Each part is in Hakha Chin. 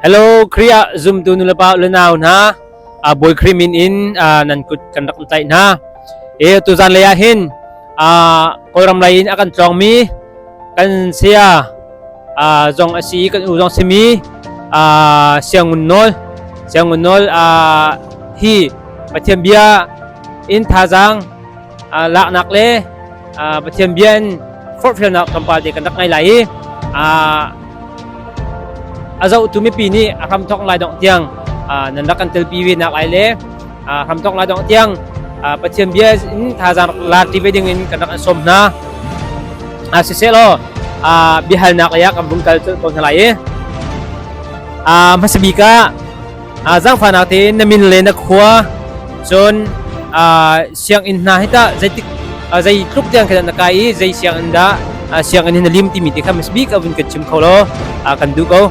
Hello Kriya zumtu nulepa unau hna a bawi krimin in nan kut kan rak tlaih hna e tuzan lei ah hin kawlram lei in a kan tlawngmi kan saya zong a si kan u zong simi siangun nawl siangun nawl hi pathian bia in thazang laknak le Pathian bia in forhfialnak tlawmpal te kan rak ngai lai i a zohtu mipi nih a hramthawk lai dongh tiang nan rak kan telpi ve nak lai le hramthawk lai dongh tiang Pathian bia in thazang laarti ve ding in kan rak an sawm hna siseh law biahalnak lei ah kan vung kal tawn hna lai i hmasabik ah zangfahnak te na min le na khua cun sianginn hna hi tah zeitik zei tluk tiang khan na kai i zei sianginn dah sianginn hi na lim timi te kha mas bik abun kan chim kho lo kan du ko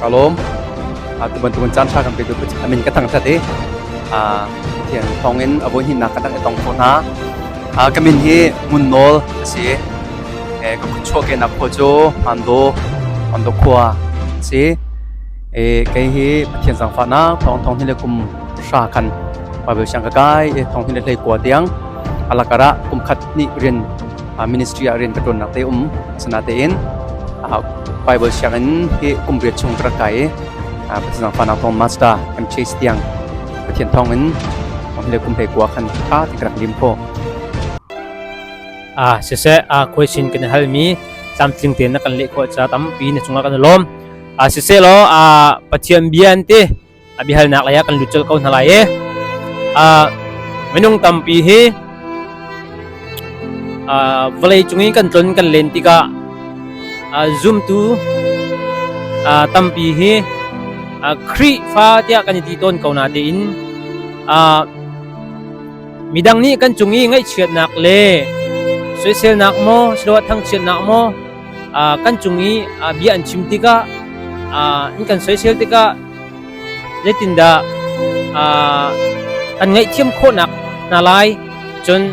kalom tuban tuban chan sha kan pe du amin ka thang sa te thian thongin abo hin na ka tang tong ko na kamin hi mun nol asi ka khua chuahkehnak khua cu Hmandaw khua a si. Kei hi Pathian zangfahnak thawngthawng hi le kum hra khan Baibal siang ka kai i thawng hi le hlei kua tiang alakar ah kum khat hnih rin ministry ah rin ka ṭuannak te um sinatein Baibal siangin hi kum riat chung ka rak kai i Pathian zangfahnak thawng master kan chase tiang Pathian thawngin hi le kum hlei kua khan ṭha ti ka rak lim khawh. Ah siseh ah khuaisin kan halmi tlamtling te na kan leh khawh ca tampi na cungah kan lawm ah siseh law ah pathian bia an ti a bihalnak lei ah kan lut cel ko hna lai e ah minung tampi hi ah vawlei cung i kan tlon kan len tikah ah zumtu ah tampi hi ah Khrihfa tiah kan i ti tawn ko na tiin ah Midang nih kan cung i ngaihchiatnak le soiselnak maw siloah thangchiatnak maw kan cung i bia an chim tikah an kan soisel tikah zeitindah kan ngaihthiam khawhnak hna lai cun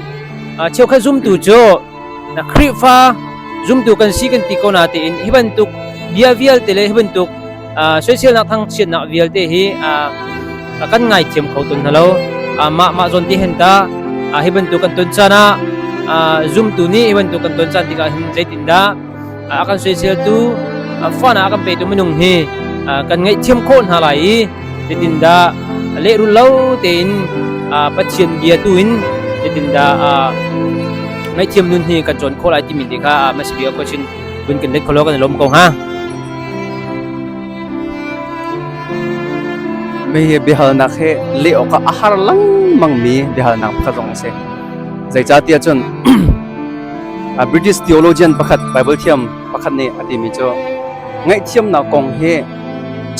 cheukhat zumtu cu Na Khrihfa zumtu kan si kan ti ko na tiin hi bantuk bia vialte le hi bantuk soiselnak thangchiatnak vialte hi kan ngai thiam kho ton halo mah mah zon ti hen ta hi bantuk kan ton chan ah zumtu nih hi bantuk kan ton chan tikah hin zeitin dah a kan soiseltu fon ah a kan petu minung hi kan ngaihthiam khawh hna lai i zeitindah lehrul lo tein Pathian bia tu in zeitindah ngaihthiam nun hi kan cawn khawh lai timi te kha masibia question bun kan let kholo kan lom ko ha mei hi bihalnak he le awk a har langmang mi bihalnak pakhat zong a si zeicatiah cun British theologian pakhat Bible thiam pakhat nih a timi cu ngaihthiamnak kong hi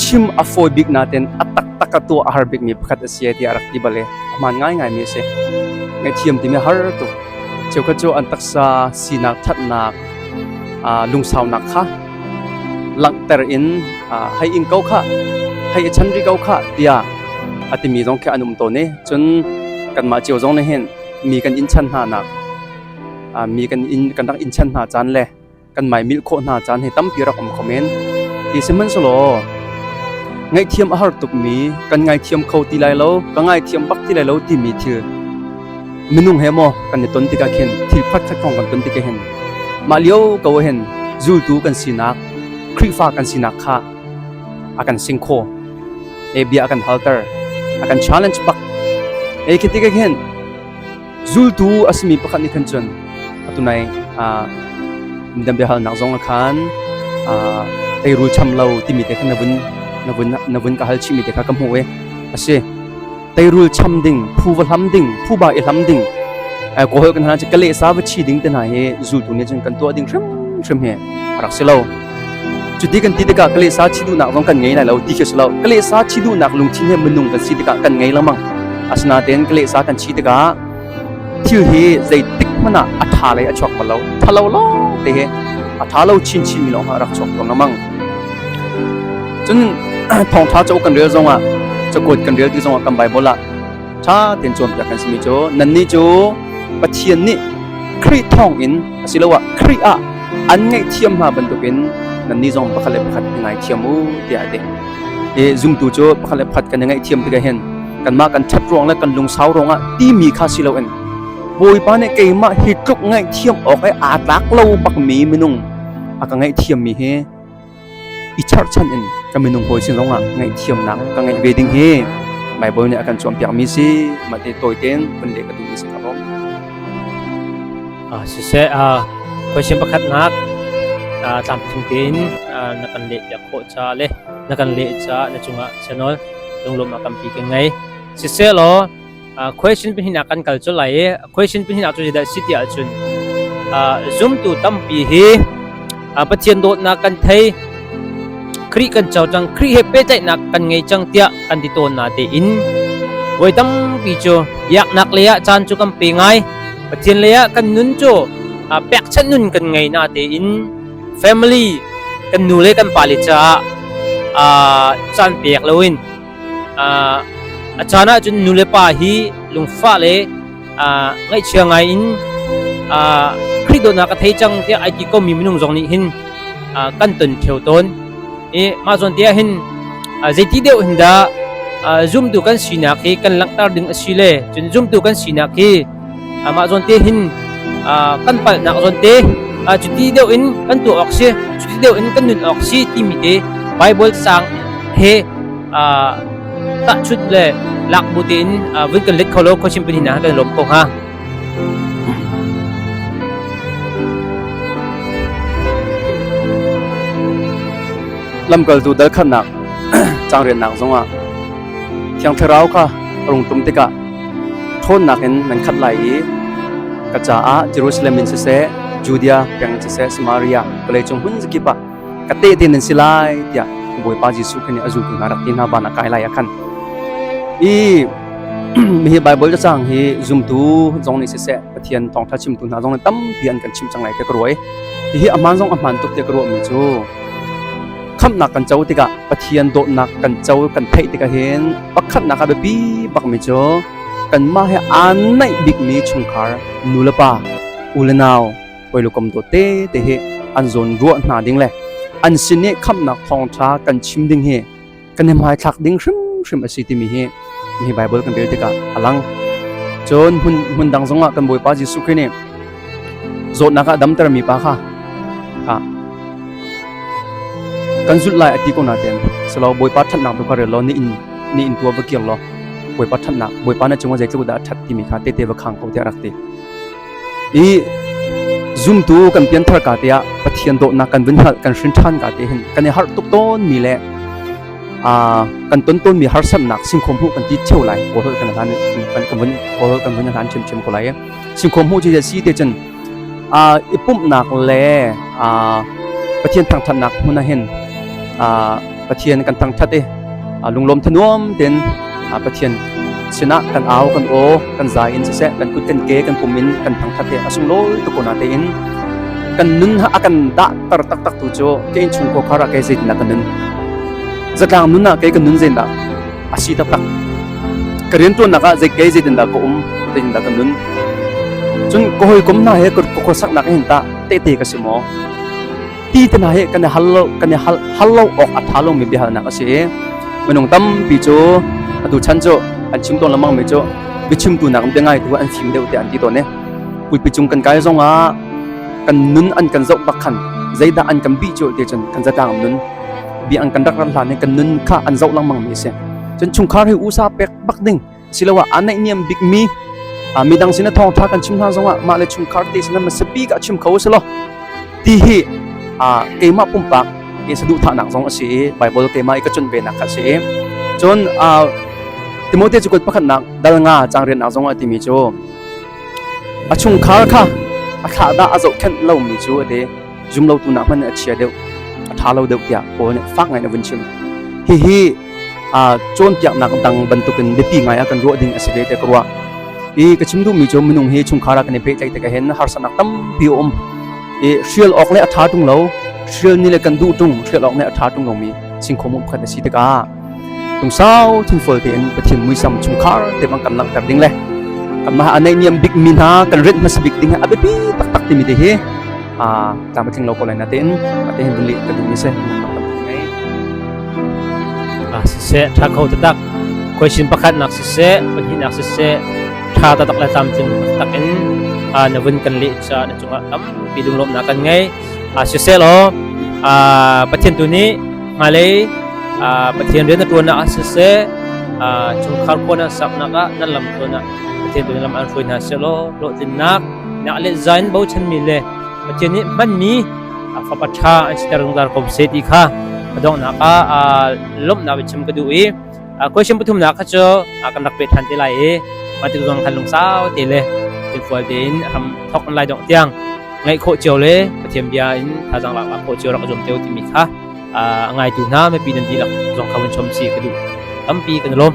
chim a fawi bik naten a taktak a tuah a har bikmi pakhat a si tiah a rak ti bale a hmaan ngaingaimi a si ngaihthiam timi har tuk cheukhat cu an taksa sinak thatnak lungsaunak kha langhter in hei in ko kha hei i chan ri ko kha tiah a timi zong khi an um tawn i cun kanmah cio zong nih hin mi kan in chan hnanak mi kan in kan rak in chan hna caan le kan mai mil khawh hna caan he tampi rak um kho men ti sihmanhselaw ngaihthiam a har tukmi kan ngaithiam kho ti lai lo ka ngaithiam bak ti lai lo timi thil minung he mo kan ni ton tika khin thil phat khat kong kan ton tika hin ma liu ko hen zultu kan sinak khrifa kan sinak kha akan sing kho e bia akan halter akan challenge pak e khitika khin zultu a simi pakhat nih khan cun atu nai dam biahalnak zong ah khan teirul cham lo timi te khan na vun na vun na vun ka hal chihmi te kha ka hmuh i a si teirul cham ding phu va hlam ding phu ba i hlam ding kohol kan hana ka leh sa va chi ding te hna hi zultu nih cun kan tuah ding hrim hrim hi a rak si lo Cuti kan ti tikah ka lehsa thi duhnak zong kan ngei lai lo ti khi si lo. Ka lehsa thi duhnak lungthin he minung kan si tikah kan ngei lengmang. Asinain ka lehsa kan thi tikah thil hi zeitik hmanh ah a ṭha lei a chuak bal lo. Ṭhalo lawng te he a ṭha lo chinchin mi lawng ha rak chuak tuang lamang. Cun thawngṭha cauk kan rel zongah, cakuat kan rel ti zongah kan Bible ah ṭha tein cawnpiak kan simi cu nannih cu Pathian nih Khrih thawngin asiloah Khrih ah an ngaihthiam hna bantukin nannih zong pakhat le pakhat i ngaithiam u tiah a ti. I zumtu cu pakhat le pakhat kan i ngaihthiam tikah hin kanmah kan ṭhat ruang le kan lungsau ruangah timi kha si loin Bawipa nih keimah hi tluk ngaihthiam awk i aa tlak lo bakmi minung a ka ngaihthiammi hi i charhchan in ka minung hawi sin zongah ngaihthiamnak ka ngeih ve ding hi Baibal nih a kan cawnpiakmi si mah te tawi tein kan leh ka duhmi si ka rom. Siseh, question pakhatnak tlamtling tein na kan leh piak khawh ca le na kan leh ca na cungah chanol lunglawm a kampi kan ngei. Siseh law Question pahnih ah kan kal cu lai i question pahnih ah cu zeidah a si ti ahcun zumtu tampi hi Pathian dawtnak kan thei Khrih kan co cang Khrih he pehtlaihnak kan ngei cang tiah kan ti tawn na tein voi tampi cu yaknak lei ah caan cu kan pe ngai Pathian lei ah kan nun cu pekchanh nun kan ngei na tein family kan nu le kan pa le caah caan pek loin A caan ahcun nulepa hi lungfah le ngaihchia ngai in Khrih dawtnak ka thei cang tiah ai ti komi minung zong nih hin kan ton theo tawn. I mah zawn te ah hin zeiti deuh hin dah zumtu kan sinak hi kan langhter ding a si le cun zumtu kan sinak hi Amah zawnte hin kan palhnak zawnte cuti deuh in kan tuah awk si, cuti deuh in kan nun awk si timi te Baibal sang he tahchunh le lak bu tein vun kan let kho lo khochim pin hina kan lawm ko hnga. lamkaltu dal khatnak cangrennak zongah thiang thlarau kha rung tum tikah ṭhawnnak in nan khat lai i ka caah Jerusalem in siseh, Judea peng siseh, Samaria vawleicung hmun zakip ah ka tehte nan si lai tiah Bawipa Jesuh khan nih a zultu hna rak ti hna ban ah kai lai ah khan i hihi Baibal cacang hi zumtu zong nih siseh Pathian thawngṭha chimtu hna zong nih tampi an kan chimh cang lai tiah ka ruah i hihi a hmaan zong a hmaan tuk tiah ka ruahmi cu khamhnak kan co tikah Pathian dawtnak kan co kan theih tikah hin pakhatnak a biapi bakmi cu kanmah he aan naih bikmi chungkhar nu le pa u le nau hawilukom dawt te te hi an zawn ruah hna ding le an sin i khamhnak thawngtha kan chim ding hi kan i hmaithlak ding hrimhrim a si timi hi Nihi Baibal kan rel tikah a lang. Cun hmun hmun dang zongah kan Bawipa Jesuh Khrih nih zawtnak ah damtermi pa kha kha kan zulh lai a ti ko na ten selo Bawipa thatnak tu kha rel law ni in ni in tua va kir law Bawipa thatnak Bawipa na cungah zeitluk dah a that timi kha tete va khang ko te a rak ti. I zumtu kan pianthar ka te ah Pathian dawtnak kan vun hngalh kan hrin ṭhan ka te hin kan i harh tuk tawn mi le a kan ton ton mi harsamnak singkhom hu kan ti cheu lai kawhol kan hlan kan kan vun kawhol kan vun hlan chem chem ko lai singkhom hu ji si te chen a ipumnak le a pathian thangthatnak huna hin a Pathian kan thangthat i lunglawm thanuam tin Pathian sinah kan au kan aw kan za in siseh kan kut kan ke kan pum in kan thangthat he a sunglawi tu kona te in kan nun ha akan da tar tak tak tu chu ke in chung ko khara ke zeitin na kan nun zatlang nun na ke kan nun zein da asi tak tak ka rian tuan naka zei ke zeitin da ko um zeitin da kan nun cun ko hoi kom na he ko ko sak nak hin ta te te ka si mo ti te hna hi kan i hal lo kan i hal hal lo awk a tha lomi biahalnak a si i minung tampi cu atu chan cu an chim tawn lemang mi cu biachimtu nak in biangai tu an fim deuh te an ti tawn ne putpi cung kan kai zong ah kan nun an kan zoh bak khan zeidah an kan bi cu te cun kan zatang nun bi an kan rak ran hlan kan nun kha an zoh langmang mi a si cun chungkhar hi usa pek bak ding siloah aa naihniam bikmi midang sinah thawngṭha kan chim hna zongah mah le chungkhar te sinah masapi ka chim kho selaw ti hi keimah pumpak ke saduhthahnak zong a si i Baibal keimah i ka chun venak kha si cun Timothea cukat pakhatnak dal nga changriannak zong a timi cu a chungkhar kha a thlah dah a zohkhenh lomi cu a ti zumlotu nak hmanh nih a chia deuh a ṭha lo deuh tiah paul nih fak ngaiin a vun chim hihi aa cawnpiaknak dang bantukin biapi ngai ah kan ruah ding a si ve te ka ruah i ka chim duhmi cu minung hi chungkhar ah kan i pehtlaih tikah hin harsatnak tampi a um i hrial awk le a ṭha ṭung lo hrial ni le kan duh ṭung hrial awk le a ṭha ṭung lomi singkhom um khat a si tikah Kum sau thingfual tein Pathian muisam chungkhar te bang kan langhter ding le kanmah a neih niam bikmi hna kan rinh hmasa bik ding a biapi taktak timi te hi a tlangba tling lo ko lai na tein te hin rili ka duh ni se siseh tha kho tatak question pakhat nak siseh pahnih nak siseh tha tatak le tam cin takin na vun kan le cha na chunga tampi dum lom na kan ngei ah sisehlaw pathian tu nih ngailei pathian rian na ṭuannak ah siseh chungkhar kuan ah saknak ah nan lam tuan ah pathian tu lam an hruai hna selaw hlawhtlinnak nak le zain bochanmi le pathian nih hmanmi fapa ṭha an siter zungzal ko seh ti kha ka donghnak ah lawmhnak biachim ka duh i Question pathumnak kha cu kan rak pet ṭhan te lai i mah tik zong khan lungsau te le thilfual tein ram thawk lai dongh tiang ngaih khawh cio le Pathian bia in thazang lak khawh cio rak zuam te u timi kha a ngaitu hna mipi nan dihlak zong kha vun chom si ka duh tampi kan lawm